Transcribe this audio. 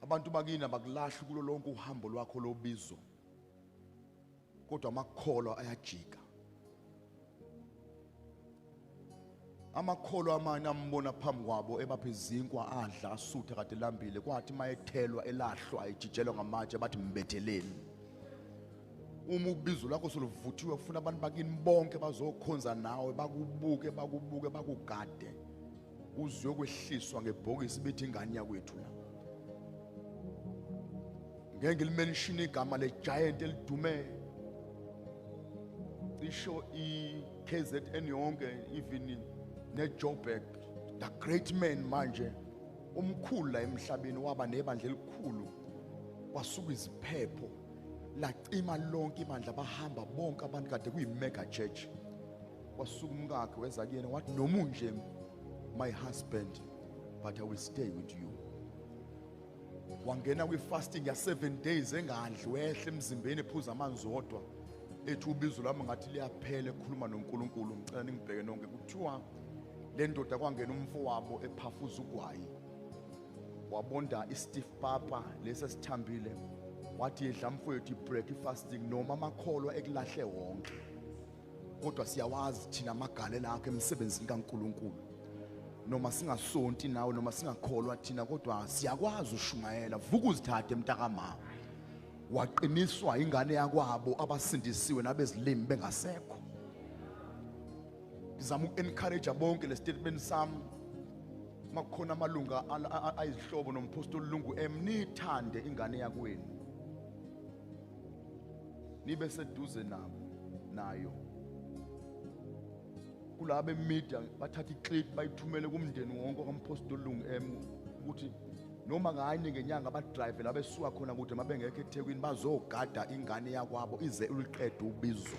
abantu bakini abakulahli kulo lonke uhambo lwakho lobizo kodwa amakholo ayajika amakholo amanye ambona phambi kwabo ebapha izinkwa adla asutha kade lambile kwathi uma ethelwa elahlwa ejijelwa ngamatshe bathi mbetheleni uma ubizo lakho soluvuthiwe ufuna abantu bakini bonke bazokhonza nawe bakubuke bakubuke bakugade Uzwe kwehliswa ngebhokisi bethi ingane yakwethu la. Ngeke ngilimenshine igama le giant elidumele. Cisho i KZN yonke even ne Joburg the great man manje umkhulu la emhlabeni waba nebandla elikhulu kwasuka iziphepho lacima lonke ibandla bahamba bonke abantu kade kuyi mega church wasuka umkakhe weza kuyena wathi noma unje my husband but i will stay with you wangena kwi-fasting ya-seven days engadli wehle emzimbeni ephuza amanzi odwa ethi ubizo lami ngathi liyaphela ekhuluma nonkulunkulu ngicela ningibheke nonke kuthiwa le ndoda kwangena umfo wabo ephafuza ugwayi wabonda i-stiff papa lesi esithambile wathi yedla mfowethu i-breakfasting noma amakholwa ekulahle wonke kodwa siyawazi thina amagalela akhe emsebenzini kaNkuluNkulu noma singasonti nawe noma singakholwa thina kodwa siyakwazi ushumayela vuka uzithathe mntakamama waqiniswa ingane yakwabo abasindisiwe nabezilimi bengasekho ngizama uku-encourage bonke le statement sami makukhona amalunga ayizihlobo nomphostoli lungu em nithande ingane yakwenu nibe seduze nabo nayo kulabe media bathatha iclip bayithumele kumndeni wonke okampostoli lungu M ukuthi noma kanye ngenyanga abadrive la besuka khona kude uma bengekho ethekwini bazogada ingane yakwabo ize uliqede ubizo